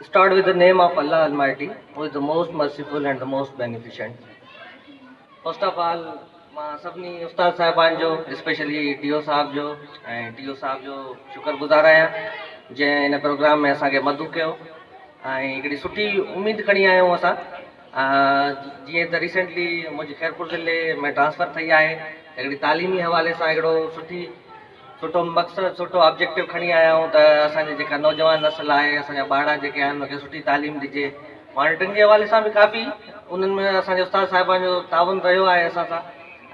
Start with the name of Allah Almighty who is the most merciful and the most beneficent. First of all مان سڀني استاد صاحبان جو specially ٽي او صاحب جو ۽ ٽي او صاحب جو شڪر گذار آهيان جنهن هن پروگرام ۾ اسان کي مدعو ڪيو ۽ هڪڙي سٺي اميد کڻي آيا آهيون اسان جيئن ته ريسنٽلي منهنجي خيرپور ضلعي ۾ ٽرانسفر ٿي آهي هڪڙي تعليمي حوالي سان هڪڙو سٺي سٺو مقصد سٺو آبجيڪٽو کڻي آيا آهيون ته اسان جي جيڪا نوجوان نسل آهي اسان جا ٻارڙا جيڪي آهن ان کي سٺي تعليم ڏجي مانيٽرنگ جي حوالي سان به ڪافي انهن ۾ اسان جي استاد صاحبان جو تعاون رهيو آهي اسان سان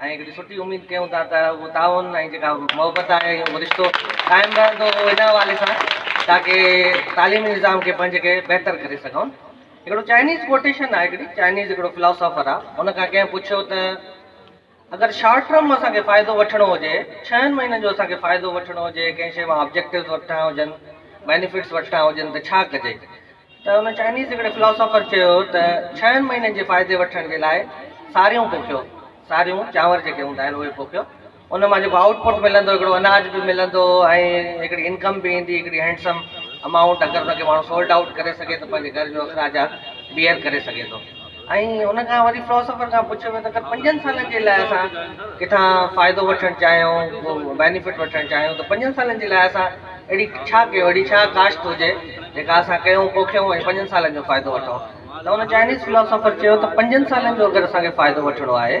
۽ هڪڙي سٺي اميد ڪيون ٿا ته اهو تعاون ۽ جيڪا محبت آهي اهو رشتو قائم رهندو ان حوالي سان تاڪي تعليمي نظام کي پنهنجي کي بهتر ڪري سگهون هڪڙو چائنيز ڪوٽيشن آهي هڪڙي چائنيز هڪڙو فلاسافر آهي ان کان ڪنهن پڇيو ته اگر شارٽ ٽرم مان اسان کي فائدو وٺڻو هجي، ڇهن مهينن جو اسان کي فائدو وٺڻو هجي، ڪنهن شيء مان آبجيڪٽوز وٺڻا هجن، بينيفٽس وٺڻا هجن ته ڇا ڪجي؟ ته ان چائنيز هڪڙي فلاسافر چيو ته ڇهن مهينن جي فائدي وٺڻ جي لاء ساريون پوکيو، ساريون چانور جيڪي هوندا آهن اهي پوکيو، ان مان جيڪو آئوٽ پٽ ملندو، هڪڙو اناج به ملندو ۽ هڪڙي انڪم به ايندي، هڪڙي هينڊسم امائونٽ، اگر ان کي ماڻهو سولڊ آئوٽ ڪري سگهي ته پنهنجي گهر جو اخراجات بيئر ڪري سگهي ٿو. ۽ ان کان وري فلاسافر کان پڇيو ويو ته اگر پنجن سالن جي لاء اسان ڪٿان فائدو وٺڻ چاهيون بينيفٽ وٺڻ چاهيون ته پنجن سالن جي لاء اسان اهڙي ڇا ڪيو اهڙي ڇا ڪاشت هجي جيڪا اسان ڪيون پوکيون ۽ پنجن سالن جو فائدو وٺون ته ان چائنيز فلاسافر چيو ته پنجن سالن جو اگر اسانکي فائدو وٺڻو آهي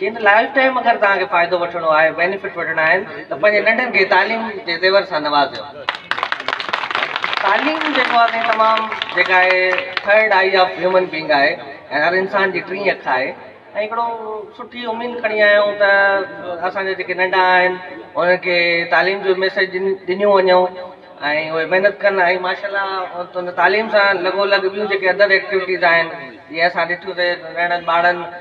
جنھن لائيف ٽائيم اگر توھان کي فائدو وٺڻو آھي بينيفٽ وٺڻا آھن ته پنھنجي ننڍن کي تعليم جي زيور سان نوازيو تعليم جيڪو آھي سائين تمام جيڪا آھي third eye of human being آھي ۽ ھر انسان جي ٽين اک آھي ۽ ھڪڙو سٺي اميد کڻي آيا آھيون ته اسان جا جيڪي ننڍا آھن انھن کي تعليم جو ميسيج ڏنيون وڃون ۽ اھي محنت ڪن ۽ ماشاء الله ان تعليم سان لڳو لڳ ٻيون جيڪي ادر ايڪٽيوٽيز آھن جيئن اسان ڏٺيون سي ننڍڙن ٻارڙن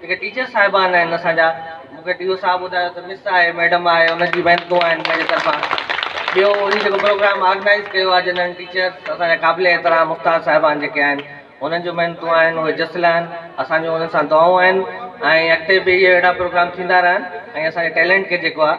جيڪي ٽيچر صاحبان آهن اسان جا مون کي ڊي او صاحب ٻڌايو ته مس آهي ميڊم آهي ان جي محنت دعا آهن منهنجي طرفان ٻيو هي جيڪو پروگرام آرگنائز ڪيو آهي جنرل ٽيچرس اسان جا قابل احترام استاد صاحبان جيڪي آهن انهن جون محنت دعا آهن اهي جس لهن اسان جون انهن سان دعائون آهن ۽ اڳتي به اهي اهڙا پروگرام ٿيندا رهن ۽ اسان جي ٽيلنٽ کي جيڪو آهي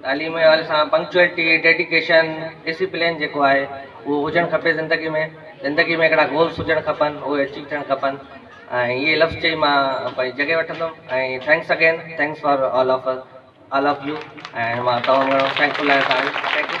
تعليم جي حوالي سان پنڪچوئلٽي، ڊيڊيڪيشن، ڊسيپلين جيڪو آهي اهو هجڻ کپي زندگي ۾ زندگي ۾ هڪڙا گولس هجڻ کپن اهي اچيو ٿيڻ کپن ۽ اهي لفظ چئي مان پنهنجي جڳهه وٺندم ۽ thanks again thanks for all of us all of you ۽ مان تمام گهڻو ٿينڪ فل آهيان ٿينڪ يو